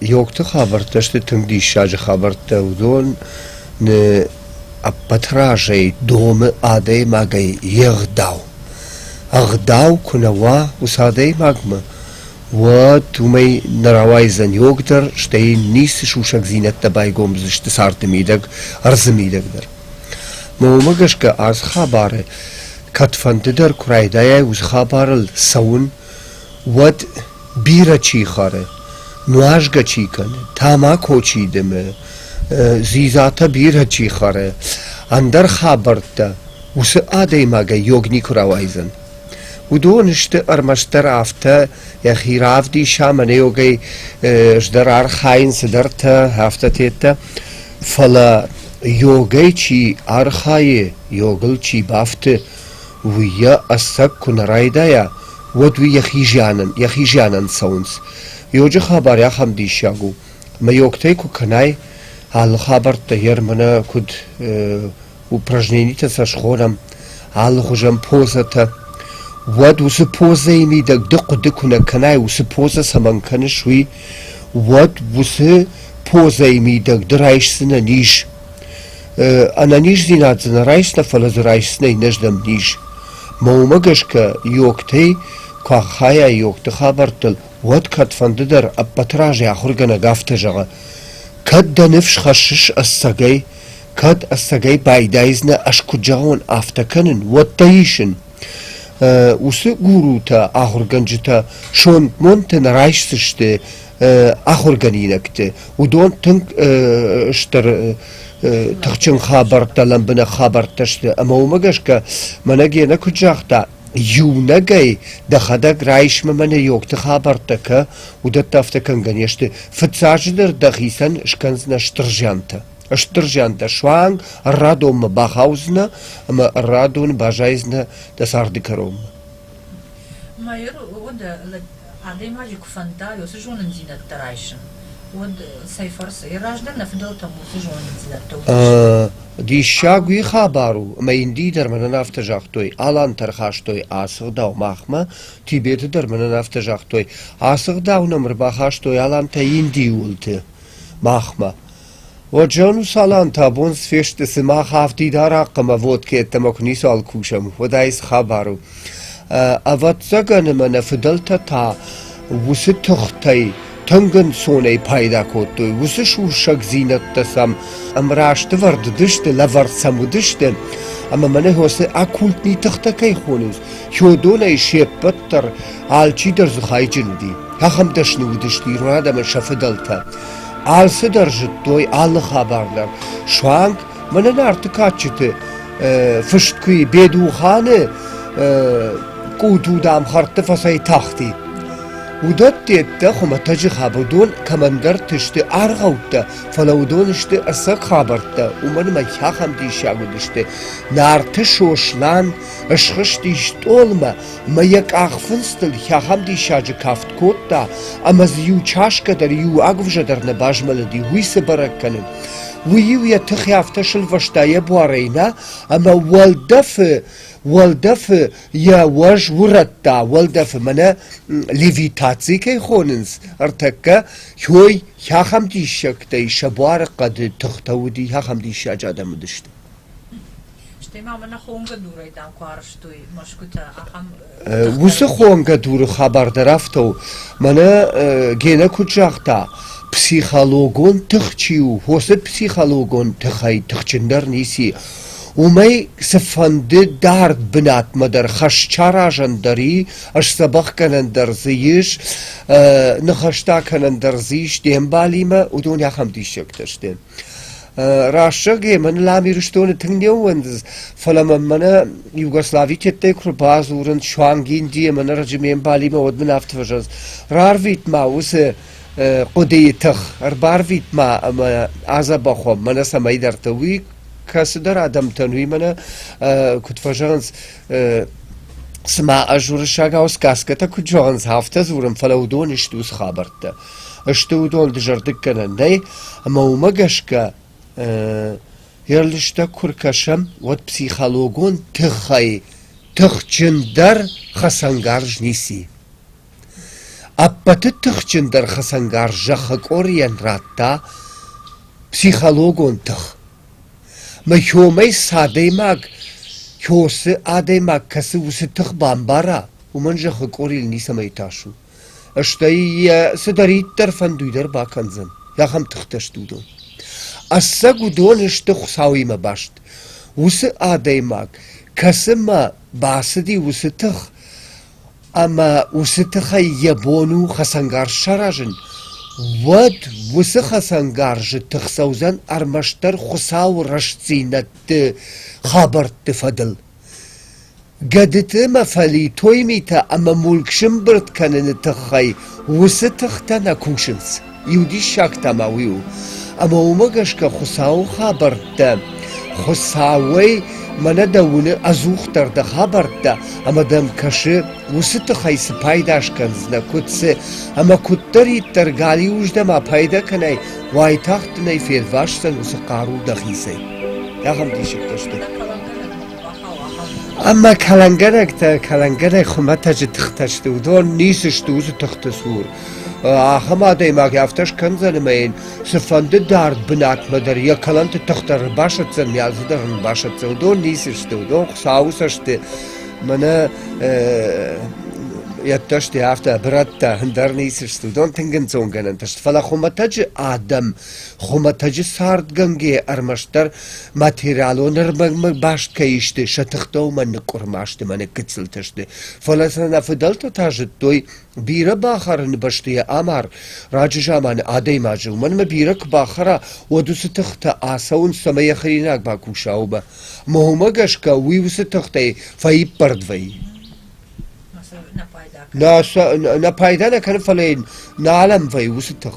Йогты хабӕрттӕ сты тынг диссаджы хабӕрттӕ. Уыдон ны ӕппӕт разӕй домы адӕймагӕй йе гъдау. Ӕгъдау куы нӕ уа уыцы адӕймагмӕ, уӕд уымӕй нӕ рауайдзӕн йог дӕр, стӕй йын ницы сусӕгдзинӕдтӕ байгом уыдзысты царды мидӕг, ӕрдзы мидӕг дӕр. Мӕ уымӕ гӕсгӕ, ацы хабары, кӕдфӕнды дӕр куы райдайай уыцы хабарыл цӕуын, Уӕд бирӕ чи хӕры, нуазгӕ чи кӕны, тамако чи дымы, дзидзатӕ бирӕ чи хӕры, ӕндӕр хабӕрттӕ уыцы адӕймагӕй йог никуы рауайдзӕн. Уыдон сты ӕрмӕстдӕр афтӕ йӕхи равдиса, мӕнӕйогӕй ӕздӕр архайын цыдӕртӕ, афтӕ теттӕ. Фӕлӕ йогӕй чи архайы, йогыл чи бафты, Уый йӕ ӕцӕг куы нӕ райдайа, уӕд уый йӕхи зианӕн, йӕхи зианӕн цӕуынц. Иоджы хабар ахӕм диссаг у, мӕйоктӕй куы кӕнай, алы хабӕрттӕ ермӕ куыд упражненитӕ сӕ схонӕм, алы хуызӕн позӕтӕ, уӕд уыцы позӕйы мидӕг ды хъуыды куы нӕ кӕнай, уыцы позӕ цӕмӕн кӕныс, уый, уӕд уыцы позӕйы мидӕг ды райсдзынӕ низ. Ӕнӕниздзинад дзы нӕ райста, фӕлӕ дзы райсдзынӕй нӕ здӕмтниз. Мӕ уымӕ гӕсгӕ йогтӕй куы ахайа йогты хабӕрттыл, уӕд кӕдфӕнды дӕр ӕппӕты разӕй ахуыргӕнӕг афтӕ зӕгъы: «Кӕд дӕ ныфс хӕссыс ӕцӕгӕй, кӕд ӕцӕгӕй байдайдзынӕ ӕз куыд зӕгъон, афтӕ кӕнын, уӕд дӕ исын. Уыцы гурутӕ, ахуыргӕнджытӕ сомонтӕ нӕ райсдзысты ахуыргӕнинӕгты. Уыдон тынг стыр тыхджын хабӕрттӕ, лӕмбынӕг хабӕрттӕ сты. Ӕмӕ уымӕ гӕсгӕ мӕнӕ Гена куыд загъта, иунӕгӕй дӕхӕдӕг райсмӕ мӕнӕ йогты хабӕрттӕ кӕ, уыдӕттӕ афтӕ кӕнгӕ не сты. Фыццаджыдӕр дӕхицӕн скӕндзынӕ стыр зиантӕ. Стыр зиантӕ суанг радонмӕ бахаудзынӕ ӕмӕ радоны баззайдзынӕ дӕ царды кӕронмӕ. Ма йыр уӕд адӕймаджы куы фӕнда уыцы зонындзинӕдтӕ райсын, уӕд цӕй фӕрцы? Йӕ раздӕр нӕ фыдӕлтӕм уыцы зонындзинӕдтӕ Диссаг уый хабар у, ӕмӕ Индийы дӕр мӕнӕн афтӕ загътой, алантӕ ӕрхастой ацы гъдау махмӕ, Тибеты дӕр мӕнӕн афтӕ загътой, ацы гъдау нӕм ӕрбахастой алантӕ Индийы уылты махмӕ. Оджону салам та бонс фесты сымах афтид арахъхъ ӕмӕ водкӕйӕддӕмӕ куы ницуал кусӕм, уӕд айс хабар у. Ӕвӕццӕгӕн ӕмӕ нӕ фыдӕлтӕ та уыцы тыхтӕй тынг ӕнцонӕй пайда кодтой, уыцы сусӕгдзинӕдтӕ сӕм ӕмрастывӕрд уыдысты, лӕвӕрд сӕм уыдысты, ӕмӕ мӕнӕ уыцы оккультный тыхтӕ кӕй хонынц, Хёдонӕй се ппӕт дӕр алчидӕр дзыхайджын уыди. Ахӕм дӕсны уыдысты ирон адӕмӕн сӕ фыдӕлтӕ. Алцыдӕр зыдтой алы хабар дӕр. Суанг мӕнӕ нарты кадджыты фыст куы и Бедуханы къудудам хӕрдты фӕцӕй тахти. Уыдӕтте дӕ хуымӕтӕджы хабӕрдон кӕмӕндӕрты сты аргъӕуттӕ, фӕлӕ уыдон сты ӕцӕг хабӕрттӕ, уымӕн ӕмӕ ахӕм диссаг уыдысты. Нарты Сослан схызти стъолмӕ мӕ йӕ къахфындзтыл хӕхӕм диссаджы кафт кодта ӕмӕ дзы иу чашкӕ дӕр иу агуывзӕ дӕр нӕ базмӕлыди, уый цы бӕрӕг кӕнын. Уый-иу йӕ тыхы афтӕ сылвӕста йӕ буарӕй нӕ, ӕмӕ уӕлдӕфы, уӕлдӕфы йӕ уӕз урӕдта, уӕлдӕфы мӕнӕ левитаци кӕй хонынц, ӕртӕккӕ, хой, хӕхӕм диссӕгтӕй сӕ буары хъӕды тыхтӕ уыди, хӕхӕм диссаджы адӕм уыдысты. Уыцы хонгӕ дуры хабар дӕр афтӕ у, мӕнӕ Гена куыд загъта, психологон тых чи у, уыцы психологон тыхӕй тыхджындӕр ницы. уымӕй цыфӕнды дард бынатмӕ дӕр хӕсчаразӕн дӕр и, сдзӕбӕхгӕнӕн дӕр дзы ис, ныхӕстӕ кӕнӕн дӕр дзы ис де мбалимӕ, уыдон ахӕм диссӕгтӕ сты. Раст зӕгъгӕ, мӕн Лам Ирыстоны тынг не ууӕндыд, фӕлӕ мӕм мӕнӕ Югослави теттӕй куы рбадзурын суанг Индийы ӕмӕ ноджы ме мбалимӕ, уӕд мын афтӕ фӕзӕгъынц: «Рарвит-ма уыцы хъуыдыйы тых, ӕрбарвит-ма ӕмӕ адзӕбӕх уӕм мӕнӕ цӕмӕйдӕрты». Уый кӕцыдӕр адӕмтӕн уый мӕнӕ куыд фӕзӕгъынц, цыма ӕз уырыссагау сказкӕтӕ куыд зӕгъынц, афтӕ дзурын, фӕлӕ уыдон исты уыцы хабӕрттӕ. сты уыдон дызӕрдыггӕнӕнӕй, ӕмӕ уымӕ гӕсгӕ йӕ лыстӕг куы ркӕсӕм, уӕд психологон тыххӕй тыхджындӕр хӕцӕнгарз ницы и. Ӕппӕты тыхджындӕр хӕцӕнгарз зӕххы къорийӕн радта психологон тых. Мӕ хомӕй цы адӕймаг, цы адӕймаг кӕсы, уыцы тых бамбара, уымӕн зӕххы къорийыл ницӕмӕй тас у. Стӕй йӕ цыдӕриддӕр фӕндуй дӕр бакӕндзӕн, ахӕм тыхтӕ сты уыдон. Ӕцӕг уыдон сты Хуыцауимӕ баст, уыцы адӕймаг, кӕцымӕ бацыди уыцы тых, ӕмӕ уыцы тыхӕй йӕ бон у хӕцӕнгарз саразын, уӕд уыцы хӕцӕнгарзы тых цӕудзӕн ӕрмӕстдӕр Хуыцауы рӕстдзинӕдты хабӕртты фӕдыл. Гӕдыты ӕмӕ фӕлитой митӕ ӕмӕ мулк сӕмбырд кӕныны тыххӕй уыцы тыхтӕ нӕ кусынц, иу диссаг та ма уый у, ӕмӕ уымӕ гӕсгӕ Хуыцауы хабӕрттӕ Хуыцауӕй мӕнӕ дӕ уыны ӕдзухдӕр дӕ хабӕрттӕ ӕмӕ дӕм кӕсы, уыцы тыхӕй цы пайда скӕндзынӕ, куыд цы, ӕмӕ куыддӕриддӕр галиуырдӕм апайда кӕнай, уайтагъд дын ӕй фелвасдзӕн уыцы хъару дӕхицӕй. Ахӕм диссӕгтӕ сты. Ӕмӕ кӕлӕнгӕрӕгтӕ, кӕлӕнгӕрӕг хуымӕтӕджы тыхтӕ сты, уыдон ницы сты уыцы тыхты цур. Ахӕм адӕймаг афтӕ скӕндзӕн ӕмӕ йын цыфӕнды дард бынатмӕ дӕр йӕ кӕлӕнты тыхтӕ ӕрбасӕтдзӕн, мӕ дзы дӕр ӕрбасӕтдзӕн. Уыдон ницы сты, уыдон Хуыцауы цӕсты мӕнӕ йӕддӕсты афтӕ брӕттӕ ӕндӕр ницы сты. Уыдон тынг ӕнцонгӕнӕн сты. Фӕлӕ хуымӕтӕджы адӕм, хуымӕтӕджы цардгӕнгӕ ӕрмӕстдӕр материалон ӕрмӕгмӕ баст кӕй сты сӕ тыхтӕ ныкъуырма сты мӕнӕ гыццылтӕ сты, фӕлӕ сын нӕ фыдӕлтӕ та зыдтой, бирӕ бахӕрыны бӕсты йӕ амар раджы заманы адӕймаджы, уымӕн ӕмӕ бирӕ куы бахӕра, уӕд уыцы тыхтӕ ацӕуынц цӕмӕ йӕ хӕринаг бакуса, уымӕ. Мӕ уымӕ гӕсгӕ уый уыцы тыхтӕй фӕиппӕрд вӕййы. Нӕ пайда нӕ пайда нӕ кӕны, фӕлӕ йын нӕ алӕмвӕйы уыцы тых.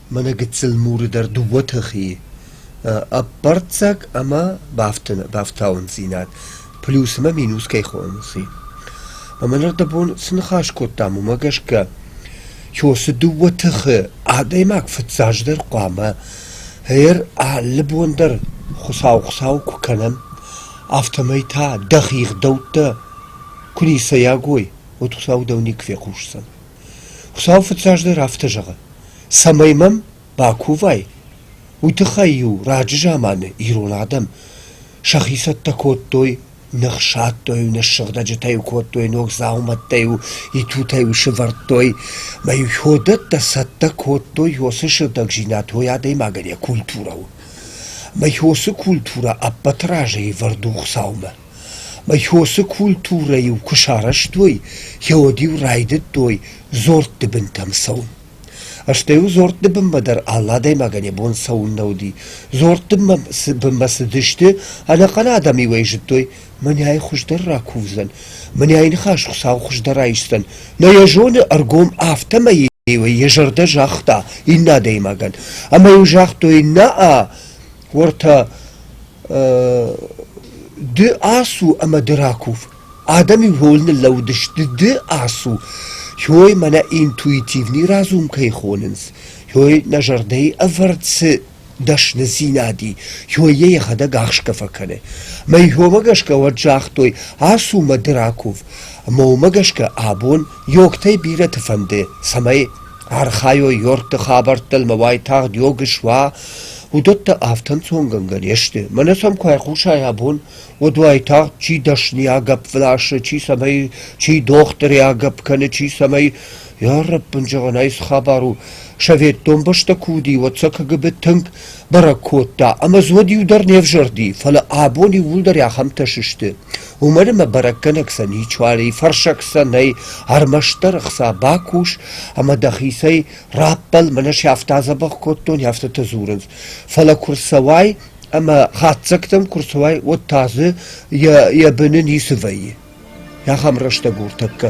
Мӕнӕ гыццыл муры дӕр дыууӕ тыхийы ӕппӕрццаг ӕмӕ бафтауындзинад плюс ӕмӕ минус кӕй хонынц, уый. Мӕн ӕрдӕбон цы ныхас кодтам, уымӕ гӕсгӕ цы дыууӕ тыхы адӕймаг фыццаджыдӕр хъуамӕ ӕр алы бон дӕр Хуыцау Хуыцау куы кӕнӕм, афтӕмӕй та дӕ хигъдӕуттӕ куы ницӕйаг уой, уӕд Хуыцау дӕу никуы фехъусдзӕн. Хуыцау фыццаджыдӕр афтӕ зӕгъы, цӕмӕй мӕм бакувай, уый тыххӕй-иу раджы заманы ирон адӕм сӕхи цӕттӕ кодтой, не хсадтой-иу не ссыгъдӕджытӕ-иу кодтой, ног дзаумӕттӕ-иу итутӕ-иу сывӕрдтой, мӕ-иу уыдӕттӕ цӕттӕ кодтой уыцы сыгъдӕгзинад уой адӕймагӕн йӕ культурӕ у. Мӕ уыцы культурӕ ӕппӕты разыйы ӕвӕрд у Хуыцаумӕ. Хъосы культурӕ-иу куы сарӕзтой, йӕуӕд-иу райдыдтой дзордты былтӕм цӕуын. Стӕй-иу дзордты бынмӕ дӕр алы адӕймагӕн йӕ бон цӕуын нӕ уыди. Дзордты бынмӕ цыдысты, ӕнӕхъӕн адӕм-иу ӕй зыдтой: мӕнӕй хуыздӕр ракувдзӕн, мӕнӕй ныхас Хуыцау хуыздӕр айсдзӕн. Нӕ йӕ зоны ӕргом, афтӕмӕй-иу ӕй йӕ зӕрдӕ загъта иннӕ адӕймагӕн. Ӕмӕ-иу загътой: «Нӕ-а, уӕртӕ Ды ацу ӕмӕ ды ракув. Адӕм-иу роль ныллӕууыдысты ды ацу. Иой мӕнӕ интуитивный разум кӕй хонынц, иой нӕ зӕрдӕйы ӕвӕрд цы дӕсныдзинад и, иой йӕ йӕхӕдӕг ӕхсгӕ фӕкӕны. Мӕ иомӕ гӕсгӕ уӕд загътой: ацу ӕмӕ ды ракув. Ӕмӕ уымӕ гӕсгӕ абон йогтӕй бирӕты фӕнды, цӕмӕй Архайой Йордты хабӕрттыл мӕ уайтагъд иог суа, уыдӕттӕ афтӕ ӕнцонгӕнгӕ не сты. Мӕнӕ сӕм куы айхъусай абон, уӕд уайтагъд чи дӕсныйӕ гӕпп ласы, чи цӕмӕй, чи дохтырӕй агӕпп кӕны, чи цӕмӕй... Йа рӕппын, зӕгъӕн ӕй цы хабар у, советон бӕстӕ куы уыди, уӕд сӕ КГБ тынг бӕрӕг кодта, ӕмӕ Зод иу дӕр не взӕрди, фӕлӕ абон иууылдӕр ахӕмтӕ сысты. Уымӕн ӕмӕ бӕрӕггӕнӕг сӕ ничуалӕй, фӕрсӕг сӕ нӕй, ӕрмӕстдӕр ӕхца бакус ӕмӕ дӕхицӕй раппӕл, мӕнӕ сӕфтӕ адзӕбӕх кодтон, афтӕтӕ дзурынц. Фӕлӕ куы рцӕуай ӕмӕ хатдзӕгтӕм куы рцӕуай, уӕд та дзы йӕ, йӕ быны ницы вӕййы. Ахӕм рӕстӕг у ӕртӕккӕ.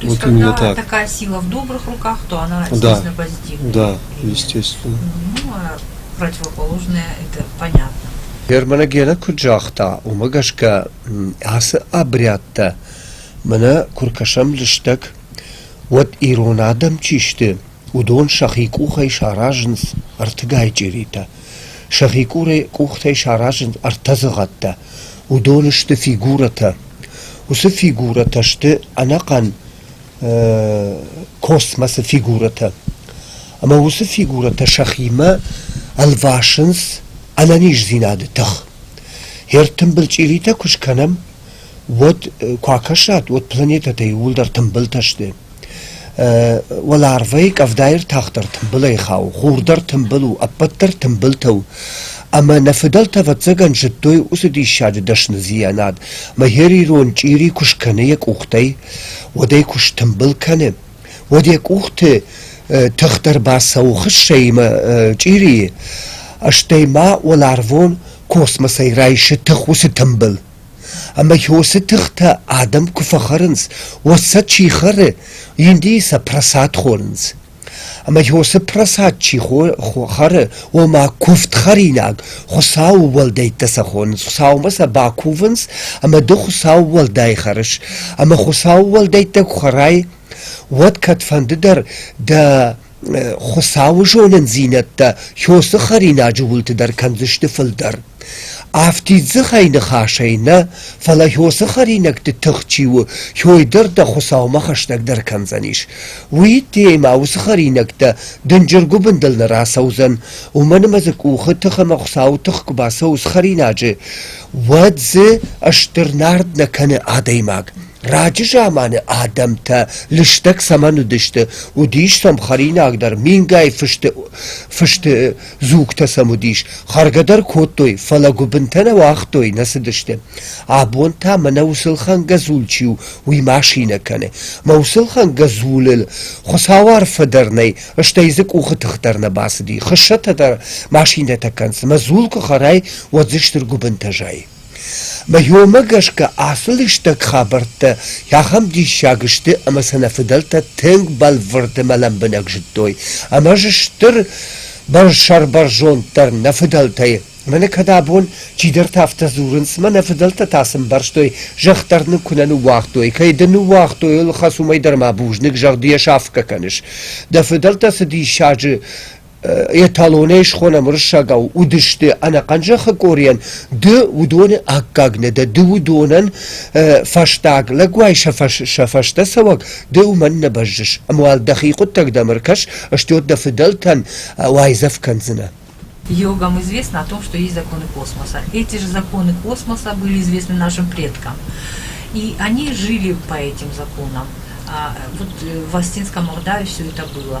То есть, вот когда так. такая сила в добрых руках, то она действительно да, позитивная. Да, естественно. Ну, а противоположное – это понятно. Германа Гена куыд загъта, уымӕ гӕсгӕ ацы обрядтӕ мӕнӕ куы ркӕсӕм лыстӕг, уӕд ирон адӕм чи сты, уыдон сӕхи къухӕй саразынц ӕртыгай чъиритӕ – Сӕхи къурӕй къухтӕй саразынц ӕртӕдзыгъӕттӕ, уыдон сты фигурӕтӕ. Уыцы фигурӕтӕ сты ӕнӕхъӕн космосы фигурӕтӕ. Ӕмӕ уыцы фигурӕтӕ сӕхимӕ ӕлвасынц ӕнӕниздзинады тых. Ӕртымбыл чъиритӕ куы скӕнӕм, уӕд куы акӕсат, уӕд планетӕтӕй иууылдӕр тымбылтӕ сты. уӕларвӕй къӕвдайы ӕртӕхдӕр тымбылӕй хауы, хур дӕр тымбыл у, ӕппӕт дӕр тымбылтӕ у. Ӕмӕ нӕ фыдӕлтӕ, ӕвӕццӕгӕн, зыдтой уыцы диссаджы дӕсны зианад, ӕмӕ хер ирон чъири куы скӕны йӕ къухтӕй, уӕд ӕй куы стымбыл кӕны, уӕд йӕ къухты тыхдӕр бацӕуы хыссӕимӕ чъирийы, стӕй ма уӕларвон космосӕй райсы тых уыцы тымбыл. Ӕмӕ хьосы тыхтӕ адӕм куы фӕхӕрынц, уӕд сӕ чи хӕры, индийы сӕ прасад хонынц. Ӕмӕ хьосы прасад чи хӕры, ома куывд хӕринаг, Хуыцауы уӕлдӕйттӕ сӕ хонынц. Хуыцаумӕ сӕ бакувынц, ӕмӕ ды Хуыцауы уӕлдай хӕрыс. Ӕмӕ Хуыцауы уӕлдӕйттӕ куы хӕрай, уӕд кӕдфӕнды дӕр дӕ Хуыцауы зонындзинӕдтӕ хёсы хӕринаджы уылты дӕр кӕндзысты фылдӕр. Афтид дзыхӕй ныхасӕй нӕ, фӕлӕ хёсы хӕринӕгты тых чи у, хёй дӕр дӕ Хуыцаумӕ хӕстӕгдӕр кӕндзӕнис. Уыйттеемӕ уыцы хӕринӕгтӕ дынджыр гуыбындыл нӕ рацӕудзӕн, уымӕн ӕмӕ дзы къухы тых ӕмӕ Хуыцауы тых куы бацӕуыс хӕринаджы, уӕд дзы стыр нард нӕ кӕны адӕймаг. Раджы заманы адӕмтӕ лыстӕг цӕмӕн уыдысты, уыдис сӕм хӕринагдӕр, мингай фысты фысты дзугтӕ сӕм уыдис, хӕргӕ дӕр кодтой, фӕлӕ гуыбынтӕ нӕ уагътой, нӕ цыдысты. Абон та мӕнӕ уыцылхӕнгӕ дзул чи у, уый машинӕ кӕны. Мӕ уыцылхӕнгӕ дзулыл Хуыцау арфӕ дӕр нӕй, стӕй дзы къухы тых дӕр нӕ бацыди. Хыссӕтӕ дӕр машинӕтӕ кӕнынц, мӕ дзул куы хӕрай, уӕд дзы стыр гуыбынтӕ зайы. Мӕйомӕ гӕсгӕ ацы лыстӕг хабӕрттӕ ахӕм диссаг сты ӕмӕ сӕ нӕ фыдӕлтӕ тынг бӕлвырдмӕ лӕмбынӕг зыдтой ӕмӕ дзы стыр сӕрбӕрзонд дӕр нӕ фыдӕлтӕй. Мӕнӕ кӕд абон чидӕртӕ афтӕ дзурынц, мӕ нӕ фыдӕлтӕ та сын ӕмбӕрстой, зӕхх дӕр нын куы нӕ ныууагътой, кӕй дын ныууагътой, ыл хӕц уымӕй дӕр ма бузныг, зӕгъ ды йӕ сафгӕ кӕныс. Дӕ фыдӕлтӕ цы диссаджы эталонӕй схонӕм уырыссагау уыдысты ӕнӕхъӕн зӕххы къорийӕн ды уыдоны аккаг нӕ дӕ ды уыдонӕн фӕстаг лӕг уай сӕ, фӕс, сӕ фӕстӕцӕуӕг ды уымӕн нӕ бӕззыс ӕмӕ уал дӕхи хъуыддӕгдӕм ӕркӕс стёт дӕ фыдӕлтӕн уайдзӕф кӕндзынӕ Йогам известно о том, что есть законы космоса. Эти же законы космоса были известны нашим предкам. И они жили по этим законам. А вот в Остинском Ордаве все это было.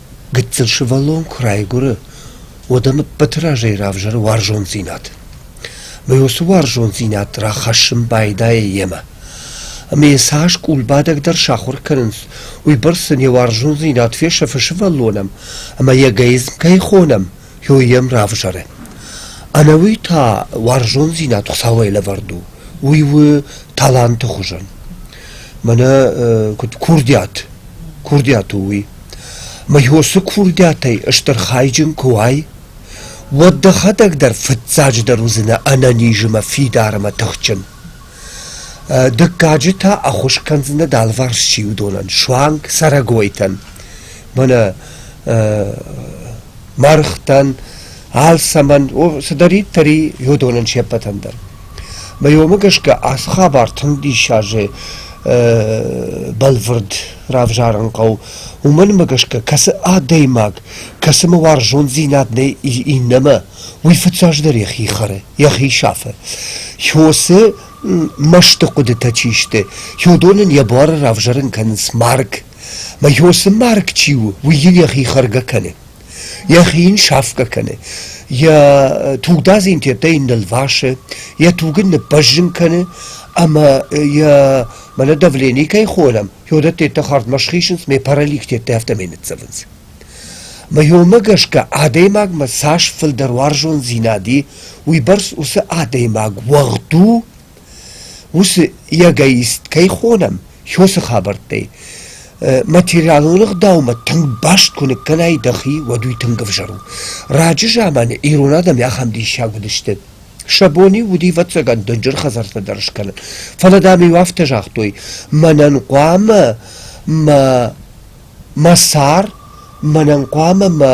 Гыццыл сывӕллон куы райгуыры, уӕд ӕм ӕппӕты разӕй равзӕры уарзондзинад. Ӕмӕ уыцы уарзондзинад рахӕссын байдайы йемӕ. Ӕмӕ йӕ цас къулбадӕг дӕр сахуыр кӕнынц, уыйбӕрц сын йӕ уарзондзинад фесӕфы сывӕллонӕн, ӕмӕ йӕ эгоизм кӕй хонӕм, йой йӕм равзӕры. Ӕнӕуый та уарзондзинад Хуыцауӕй лӕвӕрд у, уый у таланты хуызӕн. Мӕнӕ куыд курдиат, курдиат у уый. Мыйосы курдиатӕй стыр хайджын куы уай, уӕд дӕхӕдӕг дӕр фыццаджыдӕр уыдзынӕ ӕнӕниз ӕмӕ фидармӕ тыхджын. Дыккаджы та ӕххуыс кӕндзынӕ дӕлварс чи уыдонӕн, суанг цӕрӕгойтӕн, мӕнӕ мӕргътӕн, алцӕмӕн, цыдӕриддӕр и уыдонӕн се ппӕтӕн дӕр. Мӕ уомӕ гӕсгӕ ацы хабар тынг диссаджы бӕлвырд равзарын хъӕуы. Уымӕнмӕ гӕсгӕ кӕцы адӕймаг кӕцымӕ уарзондзинад нӕй иннӕмӕ, уый фыццаджыдӕр йӕхи хӕры, йӕхи сафы. Хьосы мӕсты хъуыдытӕ чи сты, хьодон ын йӕ буары равзӕрын кӕнынц марг. Мӕ хьосы марг чи у, уый йын йӕхи хӕргӕ кӕны. Йӕхи йын сафгӕ кӕны. йӕ тугдадз йын тедтӕй нылвасы, йӕ туг ын ныббӕззын кӕны ӕмӕ йӕ мӕнӕ давлени кӕй холӕм, уыдӕттӕ тедтӕ хӕрдмӕ схизынц, ме паралич тедтӕ афтӕмӕй ныццӕвынц. Мӕ иумӕ гӕсгӕ адӕймагмӕ цас фылдӕр уарзондзинад и, уыйбӕрц уыцы адӕймаг уӕгъд у, Уыцы эгоист кӕй хонӕм, Хёсы хабӕрттӕй, материалон ӕгъдаумӕ тынг баст куы ныккӕнай дӕхи, уӕд уый тынг ӕвзӕр у. раджы заманы ирон адӕм ахӕм диссаг уыдысты. Сӕ бон-иу уыди ӕвӕццӕгӕн дынджыр хӕдзӕрттӕ дӕр скӕнын. Фӕлӕ, дам-иу афтӕ загътой: «Мӕнӕн хъуамӕ мӕ Мӕ сӕр мӕнӕн хъуамӕ мӕ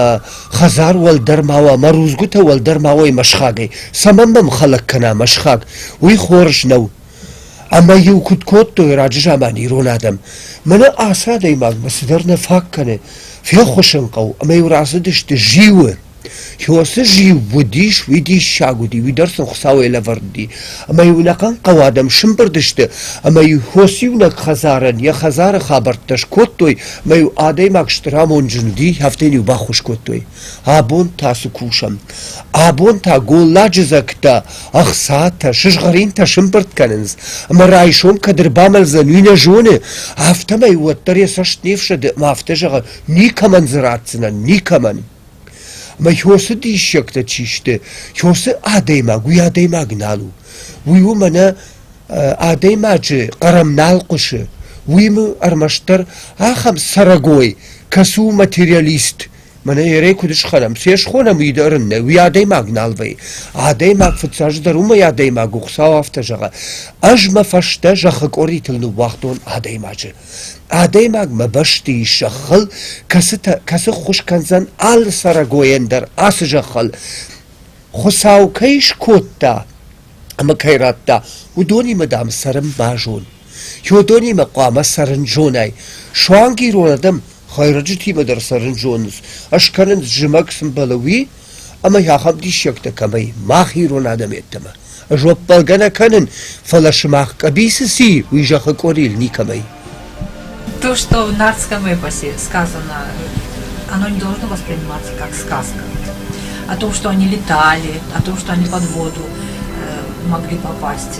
хӕдзар уӕлдӕр ма уа, мӕ рудзгуытӕ уӕлдӕр ма уой мӕ схагӕй. Цӕмӕн мӕм хӕлӕг кӕна мӕ схаг? Уый хорз нӕу. Ӕмӕ-иу куыд кодтой раджы заманы ирон адӕм: мӕнӕ ацы адӕймаг мӕ цыдӕр нӕ фаг кӕны, феххуысын хъӕуы, ӕмӕ-иу рацыдысты зиуы. Хиосы зиу уыдис, уый диссаг уыди, уый дӕр сын Хуыцауӕй лӕвӕрд уыди. Ӕмӕ-иу ӕнӕхъӕн хъӕуы адӕм сымбырд сты, ӕмӕ-иу Хос иунӕг хӕдзарӕн йӕ хӕдзары хабӕрттӕ скодтой, ӕмӕ-иу адӕймаг стыр амонд зынди, афтӕ йын-иу баххуыс кодтой. Абон та цы кусӕм? Абон та голладжыдзӕгтӕ, ӕхцатӕ, сызгъӕринтӕ сымбырд кӕнынц, ӕмӕ райсом кӕд ӕрбамӕлдзӕн, уый нӕ зоны, афтӕмӕй уӕддӕр йӕ цӕст не фсӕды, ӕмӕ афтӕ зӕгъы: никӕмӕн дзы ратдзынӕн, никӕмӕн. Мӕ хёсы диссӕгтӕ чи сты, хёсы адӕймаг уый адӕймаг нал у. Уый у мӕнӕ адӕймаджы хъӕрӕм нал хъуысы. Уый мы ӕрмӕстдӕр ахӕм цӕрӕгой, кӕцы у материалист. Мӕнӕ ерӕй куыд схӕрам, се схонӕм уый дӕр ын нӕ, уый адӕймаг нал вӕййы. Адӕймаг фыццаджыдӕр уымӕй адӕймаг у, Хуыцау афтӕ зӕгъы: ӕз мӕ фӕстӕ зӕххы къоритыл ныууагътон адӕймаджы. Адӕймаг мӕ бӕсты ис зӕххыл, кӕцытӕ, кӕцы ххуыс кӕндзӕн алы цӕрӕгойӕн дӕр ацы зӕххыл. Хуыцау кӕй скодта ӕмӕ кӕй радта, уыдонимӕ, дам, цӕрын базон. Уыдонимӕ хъуамӕ цӕрын зонай. Суанг ирон адӕм хӕйрӕджытимӕ дӕр цӕрын зонынц, ӕскӕнынц зымӕг цы мбӕлы, уый, ӕмӕ ахӕм диссӕгтӕ кӕмӕй, мах ирон адӕм йеддӕмӕ, зоппӕлгӕ нӕ кӕнын, фӕлӕ сымах къӕбицы ци, уый зӕххы къорийыл никӕмӕй. То, что в нардском эпосе сказано, оно не должно восприниматься как сказка. О том, что они летали, о том, что они под воду могли попасть.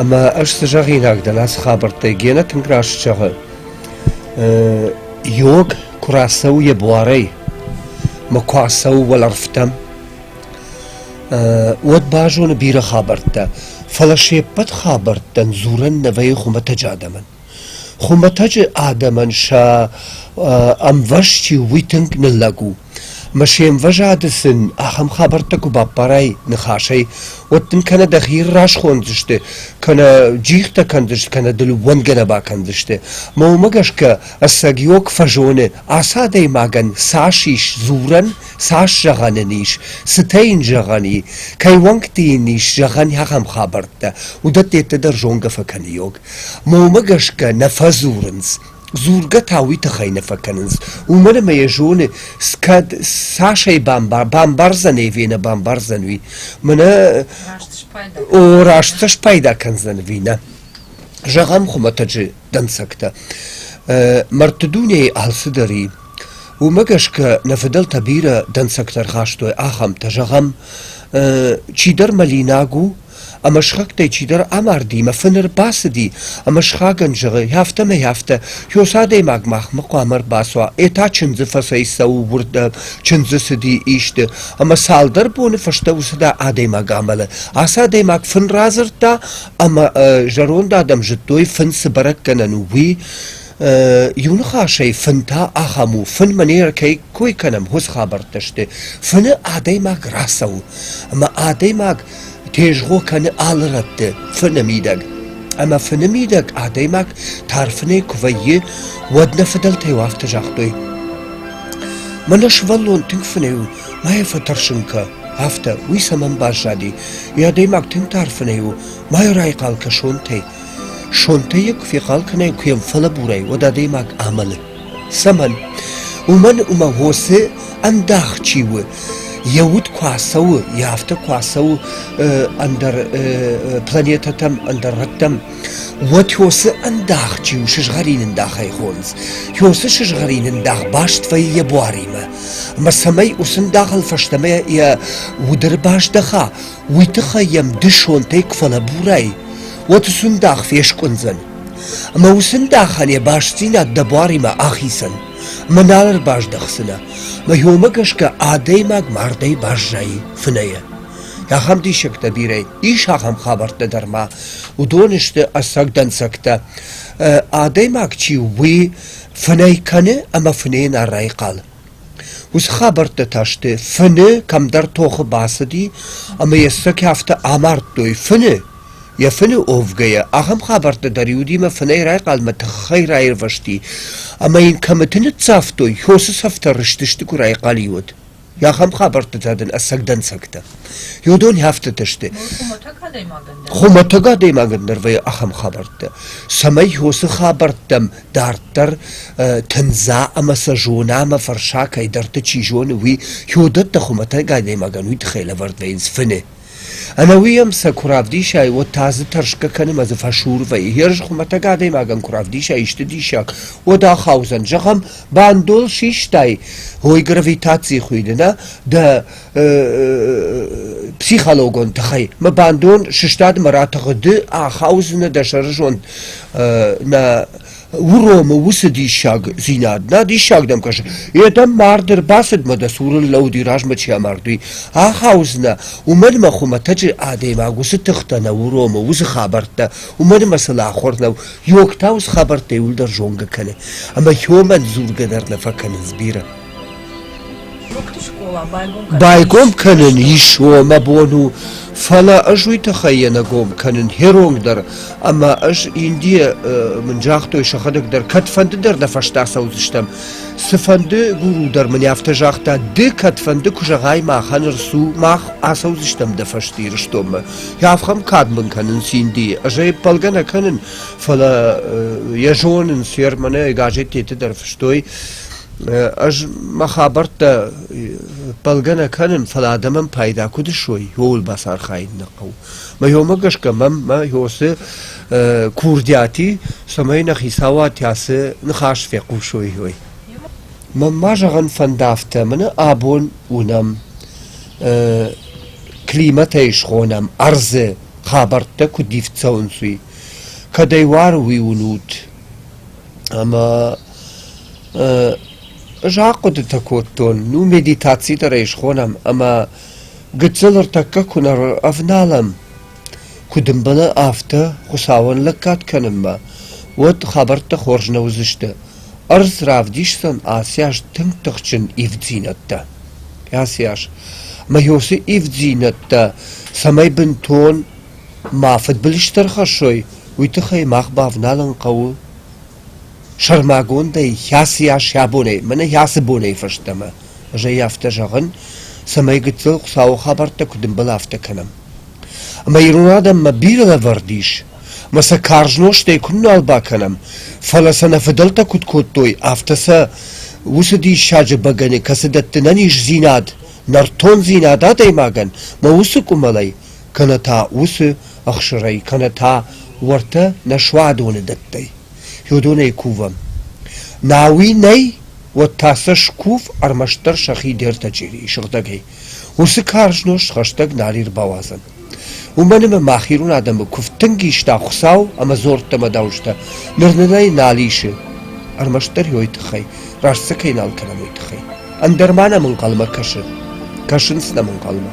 Ӕмӕ ӕз цы зӕгъинаг дӕн ацы хабӕрттӕй, Гена тынг раст зӕгъы. Йог куы рацӕуы йӕ буарӕй, мӕ куы ацӕуы уӕлӕрвтӕм, уӕд базоны бирӕ хабӕрттӕ, фӕлӕ се ппӕт хабӕрттӕн дзурӕн нӕ вӕййы хуымӕтӕджы адӕмӕн. Хуымӕтӕджы адӕмӕн сӕ ӕмвӕз чи у, уый тынг ныллӕг у. ӕмӕ се мвӕзады сын ахӕм хабӕрттӕ куы баппарай ныхасӕй, уӕд дын кӕнӕ дӕхи расхондзысты, кӕнӕ джихтӕ кӕндзысты, кӕнӕ дыл уӕнгӕ нӕ бакӕндзысты. ӕмӕ уымӕ гӕсгӕ ӕцӕгиог фӕзоны, ацы адӕймагӕн цас ис дзурӕн, цас зӕгъӕн ын ис, цытӕ йын зӕгъӕн и, кӕй уӕнгты йын ис зӕгъӕн ахӕм хабӕрттӕ, уыдӕттӕ йеддӕдӕр зонгӕ фӕкӕныйог. Момӕ гӕсгӕ нӕ фӕдзурынц, дзургӕ та уый тыххӕй нӕ фӕкӕнынц, уымӕн ӕмӕ йӕ зоны, кӕд цасӕй бамбар, бамбардзӕн ӕви нӕ бамбардзӕн уый. Мӕнӕ о, раст сӕ спайда кӕндзӕн ӕви нӕ. Зӕгъӕм хуымӕтӕджы дӕнцӕгтӕ. Мӕрдты дунейы алцыдӕр и. Уымӕ гӕсгӕ нӕ фыдӕлтӕ бирӕ дӕнцӕгтӕ ӕрхастой ахӕмтӕ, зӕгъӕм, чидӕр мӕлинаг у, Ӕмӕ схӕгтӕй чидӕр амарди мӕ фын ӕрбацыди ӕмӕ схагӕн зӕгъы, афтӕмӕй афтӕ, Ёс адӕймаг махмӕ хъуамӕ ӕрбацуа, этӕ чындзы фӕцӕй цӕуы уырдӕм, чындзы цыди исты, ӕмӕ цалдӕр боны фӕстӕ уыцы адӕймаг амӕлы. Ацы адӕймаг фын радзырдта ӕмӕ зӕронд адӕм зыдтой, фын цы бӕрӕггӕнӕн у, уый. Иу ныхасӕй, фын та ахӕм у, фынмӕ не ркой кӕнӕм, хорз хабӕрттӕ сты. фыны адӕймаг рацӕуы, ӕмӕ адӕймаг тезгъо кӕны алы рӕтты фыны мидӕг. Ӕмӕ фыны мидӕг адӕймаг тар фынӕй куы вӕййы, уӕд нӕ фыдӕлтӕ иу афтӕ загътой: Мӕнӕ сывӕллон тынг фынӕй у, ма йӕ фӕтӕрсын кӕ, афтӕ. Уый цӕмӕн баззади? Йӕ адӕймаг тынг тар фынӕй у, ма йӕ райхъал кӕ сонтӕй. сонтӕ йӕ куы фехъал кӕнай, куы йӕм фӕлӕбурай, уӕд адӕймаг амӕлы. Цӕмӕн? Уымӕн, ӕмӕ уосы ӕндах чи у, йӕ уд куы ацӕуы, йӕ афтӕ куы ацӕуы ӕндӕр планетӕтӕм, ӕндӕр рӕттӕм, уӕд уосы ӕндах чи у, сызгъӕрин ӕндахӕй хондз. Уосы сызгъӕрин ӕндах баст вӕййы йӕ буаримӕ. Ӕмӕ цӕмӕй уыцы ӕндахыл фӕстӕмӕ йӕ уды ӕрбаздӕха, уый тыххӕй йӕм дысонтӕй куы фӕлӕбурай, уӕд сындах фескъуындзӕн. Ӕмӕ уыцы сындахӕн йӕ бастдзинад дӕ буаримӕ ахицӕн, ӕмӕ нал ӕрбаздӕхдзынӕ, ӕмӕ йомӕ гӕсгӕ адӕймаг мардӕй баззайы фынӕйӕ. Ахӕм диссӕгтӕ бирӕ ис ахӕм хабӕрттӕ дӕр ма. Уыдон сты ӕцӕг дӕнцӕгтӕ. Адӕймаг чи у, уый фынӕй кӕны ӕмӕ фынӕйӕн райхъал. Уыцы хабӕрттӕ та сты, фыны кӕмдӕр тохы бацыди ӕмӕ йӕ сцӕкӕ афтӕ амардтой фыны, йӕ фыны уӕвгӕйӕ. Ахӕм хабӕрттӕ дӕр-иу Димӕ фынӕй райхъалмӕ тыххӕй раирвӕзти, ӕмӕ йын кӕмыты ныццавтой, хосы цӕфтӕ рызтысты, куы райхъал-иу уыд. Ахӕм хабӕрттӕ та дын ӕцӕг дӕнцӕгтӕ. Иу дон афтӕтӕ сты. Хуымӕтӕг адӕймагӕн дӕр вӕййы ахӕм хабӕрттӕ, цӕмӕй хосы хабӕрттӕм Дарддӕр тындза ӕмӕ сӕ зона ӕмӕ фӕрса кӕйдӕрты, чи зоны, уый. Кёдӕттӕ хуымӕтӕг адӕймагӕн уый тыххӕй лӕвӕрд вӕййынц фыны. Ӕнӕ уый ӕм сӕ куы равдисай, уӕд та дзы тӕрсгӕ кӕнӕм ӕмӕ дзы фӕсур вӕййы. Ерыс хуымӕтӕг адӕймагӕн куы равдисай исты диссаг, уӕд ахаудзӕн. Зӕгъӕм, бандол систай, ой гравитацийы хуыйны, нӕ? Дӕ психологон тыхӕй мӕ бандон сыстад мӕ ратыгъды ахаудзынӕ дӕ сӕрызонд нӕ уромы уыцы диссагдзинад нӕ диссаг дӕм кӕсы йе дӕм мард ӕрбацыдмӕ дӕ цуры лӕуди размӕ чи амард уый ахаудзынӕ уымӕн мӕ хуымӕтӕджы адӕймаг уыцы тыхтӕ нӕ уромы уыцы хабӕрттӕ уымӕн мӕ сыл ахуыр нӕу йогтау цы хабӕрттӕй уӕлдӕр зонгӕ кӕны ӕмӕ йомӕн дзургӕ дӕр нӕ фӕкӕнынц бирӕ Байгом кӕнын ис уомӕ бон у, фӕлӕ ӕз уый тыххӕй йӕ нӕ гом кӕнын херонг дӕр, ӕмӕ ӕз Индийӕ мын загътой сӕхӕдӕг дӕр, кӕдфӕнды дӕр нӕ фӕстӕ ацӕудзыстӕм. Цыфӕнды гуру дӕр мын афтӕ загъта, ды кӕдфӕнды куы зӕгъай махӕн рцу, мах ацӕудзыстӕм дӕ фӕсте Ирыстонмӕ. Афӕм кад мын кӕнынц Индийы, ӕз ӕй ӕппӕлгӕ нӕ кӕнын, фӕлӕ йӕ зонынц, йӕ романы, газеттеты дӕр фыстой, Ӕз мӕ хабӕрттӕ пӕлгӕ нӕ кӕнын, фӕлӕ адӕмӕн пайда куыд ысуой, ууыл бацархайын нӕ хъӕуы. Мӕ ёмӕ гӕсгӕ мӕм мӕ ёсы курдиати, цӕмӕй нӕ хицауад ацы ныхас фехъусой, уой. Мӕн ма зӕгъын фӕнды афтӕ, мӕнӕ абон уынӕм, климатӕй схонӕм, ӕрдзы хабӕрттӕ куыд ивд цӕуынц, уый. Кӕдӕй уары уый уынут, Ӕмӕ ӕз ахъуыдытӕ кодтон, ну медитаци дӕр ӕй схонӕм ӕмӕ гыццыл ӕртӕккӕ куы нӕ ӕвналӕм, куы дымбыны, афтӕ Хуыцауӕн лӕггад кӕнынмӕ, уӕд хабӕрттӕ хорз нӕ уыдзысты. Ӕрдз равдисдзӕн ацы аз тынг тыхджын ивддзинӕдтӕ. Ацы аз. Ӕмӕ йӕ уыцы ивддзинӕдтӕ цӕмӕй бынтон Ма фыдбылыз дӕр хӕссой, уый тыххӕй мах бавналын хъӕуы сӕрмагондӕй хӕцыйас йӕ бонӕй, мӕнӕ хӕцы бонӕй фӕстӕмӕ. Ӕз ӕй афтӕ зӕгъын, цӕмӕй гыццыл Хуыцауы хабӕрттӕ куыд ӕмбӕлы, афтӕ кӕнӕм. Ӕмӕ ирон адӕммӕ бирӕ лӕвӕрд ис, ӕмӕ сӕ карз нозтӕй куыннал бакӕнӕм, фӕлӕ сӕ нӕ фыдӕлтӕ куыд кодтой, афтӕ сӕ уыцы диссаджы бӕгӕны, кӕцы дӕтты нӕ низдзинад, нӕртондзинад адӕймагӕн, мӕ уыцы къуымӕлӕй, кӕнӕ та уыцы ӕхсырӕй, кӕнӕ та уӕртӕ нӕ суадоны дӕттӕй, федонӕй кувӕм. науи нӕй, уӕд та сӕ скув ӕрмӕстдӕр сӕхи дӕртӕ черейы сыгъдӕгӕй. уыцы карз нозт хӕстӕг нал ӕрбауадзӕн. уымӕн ӕмӕ мах ирон адӕмы куыв тынг иста Хуыцау ӕмӕ дзордтӕ ӕмӕ дауджытӕ, ныр нын ӕй нал исы, ӕрмӕстдӕр йойы тыххӕй, раст сӕ кӕй нал кӕнӕм, уый тыххӕй. Ӕндӕр ма нӕм ӕнхъӕлмӕ кӕсы? Кӕсынц нӕм ӕнхъӕлмӕ.